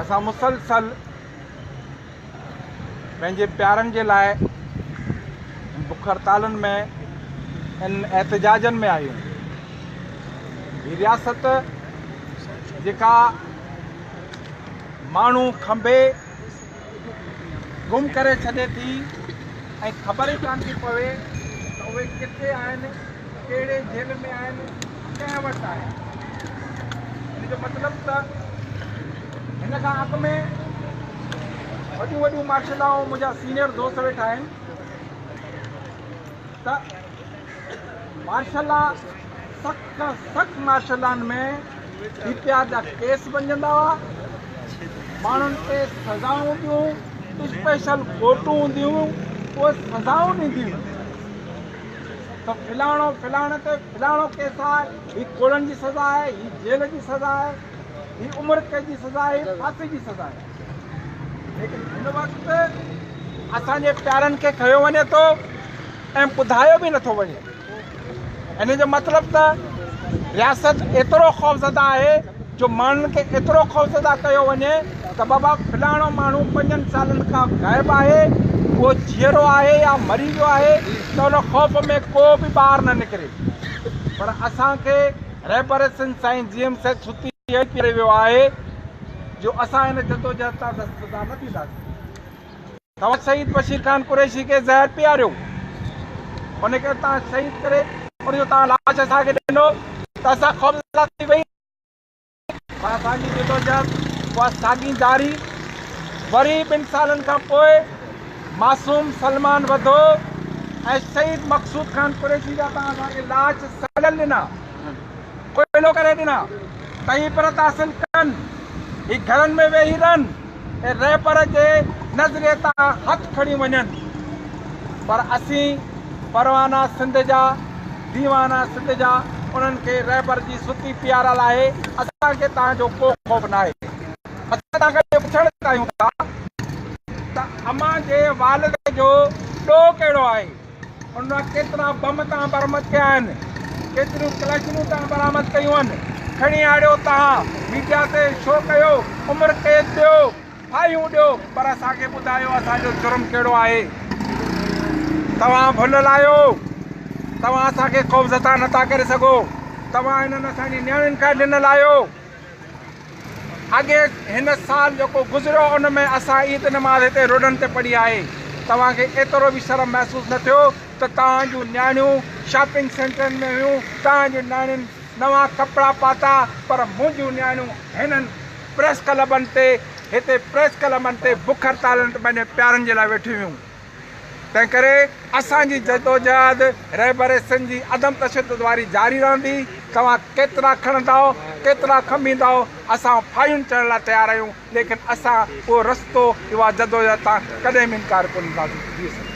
اسان مسلسل پنهنجي پيارن جي لاء بک هڙتالن ۾ ان احتجاجن ۾ آهيون هي رياست جيڪا ماڻهو کنڀي گم ڪري ڇڏي ٿي ۽ خبر ئي ڪانه ٿي پوي ته اهي ڪٿي آهن، ڪهڙي جيل ۾ آهن، ڪنهن وٽ آهن. ان جو مطلب ته هن کان اڳ ۾ وڏيون وڏيون مارشل لا منهنجا سينئر دوست ويٺا آهن ته مارشل لا سخت کان سخت مارشل لان ۾ ڊي پي آر جا ڪيس بنجندا هئا ماڻهن کي سزائون هونديون اسپيشل ڪورٽون هونديون اهي سزائون ڏينديون ته فلاڻو فلاڻي تي فلاڻو ڪيس آهي هي ڪوڙن جي سزا آهي هي جيل جي سزا آهي هي عمر قيد جي سزا آهي هي ڦاسي جي سزا آهي ليڪن هن وقت اسان جي پيارن کي کنيو وڃي ٿو ۽ ٻڌايو به نٿو وڃي ان جو مطلب ته رياست ايترو خوفزده آهي جو ماڻهن کي ايترو خوفزده ڪيو وڃي ته بابا فلاڻو ماڻهو پنجن سالن کان غائب آهي اهو جيئرو آهي يا مري ويو آهي ته ان خوف ۾ ڪو به ٻاهر نه نڪري پر اسان کي رهبر سنڌ سائين جي ايم سيد ستي ويو آهي جو اسان هن جدوجهد تان دستبردار نه ٿينداسين. توهان شهيد بشير خان قريشي کي زهر پياريو، ان کي توهان شهيد ڪري ان جو توهان لاش اسان کي ڏنو ته اسان خوفزده ٿي ويئي پر اسان جي جدوجهد اها ساڳي جاري وري ٻن سالن کان پوء معصوم سلمان وڌو ۽ شهيد مقصود خان قريشي جا توهان اسان کي لاش سڙيل ڏنا. ڪوئلو ڪري ڏنا تئين پر تحسن ڪن هي گهرن ۾ ويهي رهن ۽ رهبر جي نظريي تان هٿ کڻي وڃن پر اسين پروانا سنڌ جا ديوانا سنڌ جا انهن کي رهبر جي ستي پيارل آهي اسان کي توهان جو ڪو خوف ناهي اسان توهان کي پڇڻ چاهيون ٿا ته امان جي والد جو ڏوهه ڪهڙو آهي ان مان ڪيترا بم تان برمد ڪيا آهن ڪيتريون ڪلاشنون تان برآمد ڪيون آهن کڻي آڻيو تها ميڊيا تي شو ڪيو عمر قيد ڏيو ڦاهيون ڏيو پر اسان کي ٻڌايو اسان جو جرم ڪهڙو آهي توهان ڀلل آهيو توهان اسان کي خوفزدا نٿا ڪري سگهو توهان هنن اسان جي نياڻين کان ڏنل آهيو اڳي هن سال جيڪو گذريو ان ۾ اسان عيد نماز هتي روڊن تي پڙهي آهي توهان کي ايترو به شرم محسوس نه ٿيو ته توهان جون نياڻيون شاپنگ سينٽرن ۾ هيون توهان جي نياڻين نوان ڪپڙا پاتا پر منهنجون نياڻيون هنن پريس ڪلبن تي هتي پريس ڪلبن تي بک هڙتالن تي پنهنجي پيارن جي لاء ويٺيون هيون. تنهن ڪري اسان جي جدوجهد رهبر سنڌ جي عدم تشدد واري جاري رهندي، توهان ڪيترا کڻندائو، ڪيترا کنڀيندائو، اسان ڦاهيون چڙهڻ لاء تيار آهيون، ليڪن اسان اهو رستو، اها جدوجهد تان ڪڏهن به انڪار ڪونه ڪنداسين.